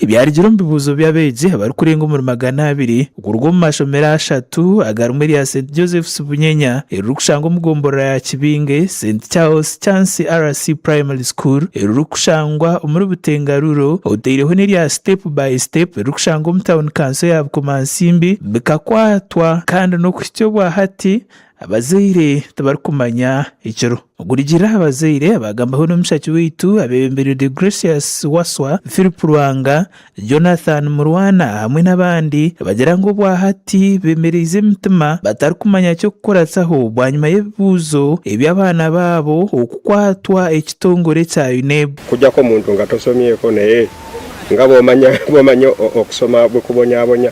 Ebyarugire omu bibuuzo by'abeegi abarikurenga omuri magana abiri kuruga omu mashomero ashatu aga rimwe erya St Joseph's Bunyenya eririkushangwa omu gomborora ya Kibinge, St Charles Chancy RC Primary School eririkushangwa omuri Butenga Rural oteireho n'erya Step by Step eririkushangwa omu Town Kanso ya Bukomansimbi bikakwatwa kandi n'okuhitsya obwa hati Abazaire tibarikumanya ekiro ogurigira aha bazaire abaagambaho n'omushaki waitu abeebembeirwe Deogratius Waswa, Phillip Lwanga, Jonathan Murwana hamwe n'abandi nibagira ngu obwahati beemereize emitima batarikumanya ky'okukoratsaho bwanyima y'ebibuuzo eby'abaana baabo okukwatwa ekitongore kya UNEB. Kujako omuntu nga tosomyeko naye nga bwomanya okusoma bukubonyabonya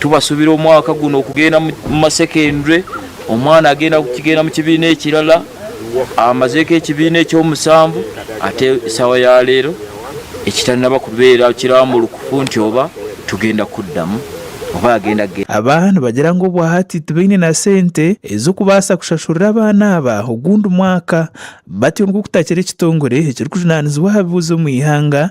Tubasubire omwaka gunu okugenda omu ma secondary, omwana agenda kugenda mukibiina ekirala, amazeku ekibiina ekyomusanvu ate esawa ya leero ekitanaba kubeera kiramurukufu nti oba tugenda kudamu oba agenda kugenda. Aba nibagira ngu obwahati tibaine na sente ez'okubaasa kushashurira abaana aba ogundi mwaka, batyo ngu kutakira ekitongore ekirikujunanizibwa aha bibuuzo omu ihanga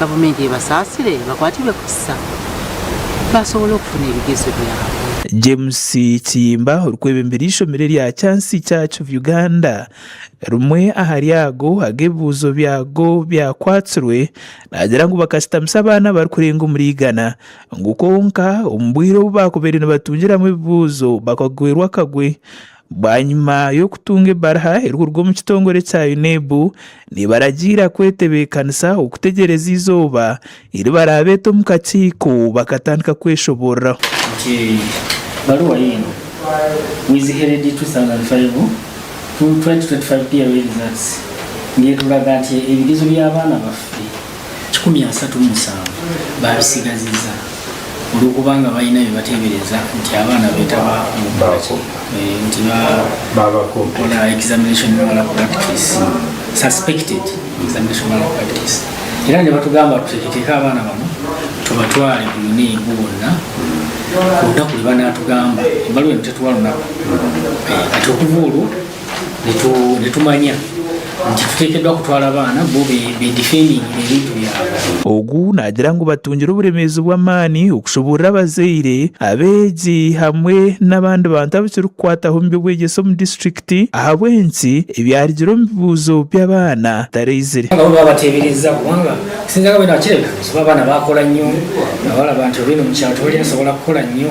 Gavumenti ebasaasire bakwatirwe kuhitsisa basobole okufuna ebigezo byabo. James Kiyimba orikwebembera eishomero erya Chancy Church of Uganda rimwe ahari ago ag'ebibuuzo byago byakwatsirwe naagira ngu bakashitamisa abaana abarikurenga omuri igana ngu kwonka omu bwire obu baakubaire nibatungiramu ebibuuzo bakagwerwa akagwe Bwanyima y'okutunga ebaruha erikuruga omu kitongore kya UNEB nebaragiira kwetebeekanisa okutegyereza eizooba eri baraabeete omu kakiiko bakatandika kweshoboorora. Nti baruha yiino with headed 2005 to 2025 PLE results ngeeturaga nti ebigezo by'abaana baffe kikumi asatu omusanvu baabitsigaziza olw'okubanga baine ebi bateebereza nti abaana beetaba omu kukora ki? Nti baakora examination malpractice, suspected examination malpractice. Era nibatugamba tuteeketeeke abaana banu tubatware twine bo bonna kwonka kuri banaatugamba, ebaruha enu tetuha runaku. Kati okuva orwo. nitumanya nti tuteekeddwa kutwara abaana bo beedifendingire ebintu byabo. Ogu naagira ngu batungire oburemeezi bw'amaani okushuburira abazaire, abeegi hamwe n'abandi bantu abu kirikukwataho omu by'obwegyese omu disiturikiti ahabw'enki ebyarugire omu bibuuzo by'abaana bitaraizire. Nabo baabateebereza kubanga kusinzira nka bwe naakireka, nooshusha abaana baakora nyo, nabo baraba nti oru oine omu kyaro tihaine asobola kukora nyo.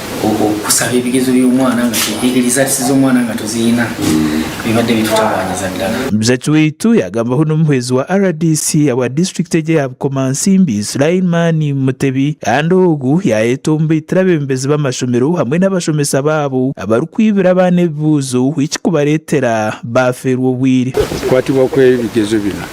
Kusara ebigezo by'omwana nga tuzihikiriza z'omwana nga tuziyina bibade bitutabanyiza dala. Muzachi waitu yagambaho n'omuhwezi wa rdc awa district egyo eya Bukomansimbi Sulaiman Mutebi kandi ogu yayeta omu baitire abebembezi b'amashomero hamwe n'abashomesa baabo abarikwibira abaana ebibuuzo eki kubaretera baferwa obwire. Okukwatibwa kw'ebigezo binu